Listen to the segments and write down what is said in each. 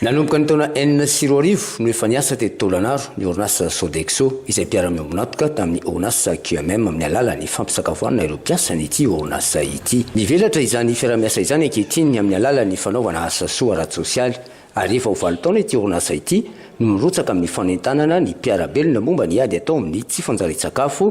Nanomboka ny taona enina sy roa arivo no efa niasa teto Tôlanaro ny orinasa Sodexo izay mpiara-miombon'antoka tamin'ny orinasa QMM amin'ny alalan'ny fampisakafoanana ireo mpiasan'ity orinasa ity. Mivelatra izany fiaraha-miasa izany ankehitriny amin'ny alalan'ny fanaovana asa soa ara-tsosialy ary efa ho valo taona ity orinasa ity no mirotsaka amin'ny fanentanana ny mpiara-belona momba ny ady atao amin'ny tsy fanjarian-tsakafo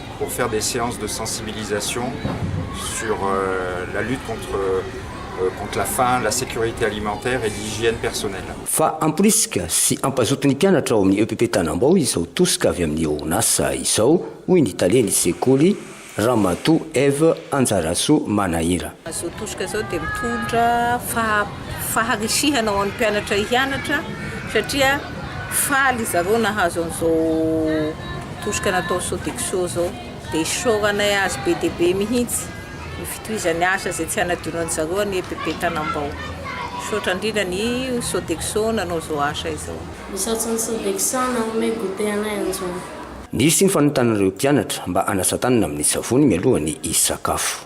pour faire des séances de sensibilisation sur la lutte contre contre la faim, la sécurité alimentaire et l'hygiène personnelle. Fa hamporisika sy hampazoto ny mpianatra ao amin'ny EPP Tanambao izao tosika avy amin'ny ONAS izao, hoy ny talen'ny sekoly, Ramatoa Eve Anjarasoa Manahira. Izao tosika izao dia mitondra faharisihana ho an'ny mpianatra hianatra satria faly izy ireo nahazo an'izao. Tosika natao Sodexo zao dia isaoranay azy be dia be mihitsy ny fitohizany asa izay tsy hanadionan'ny zareo an'i EPP Tanambao. Misaotra indrindra ny Sodexo nanao izao asa izao. Misaotra ny Sodexo nanome goûter anay androany. Nisy ny fanontanan'ireo mpianatra mba hanasa tanana amin'ny savony mialoha ny hisakafo.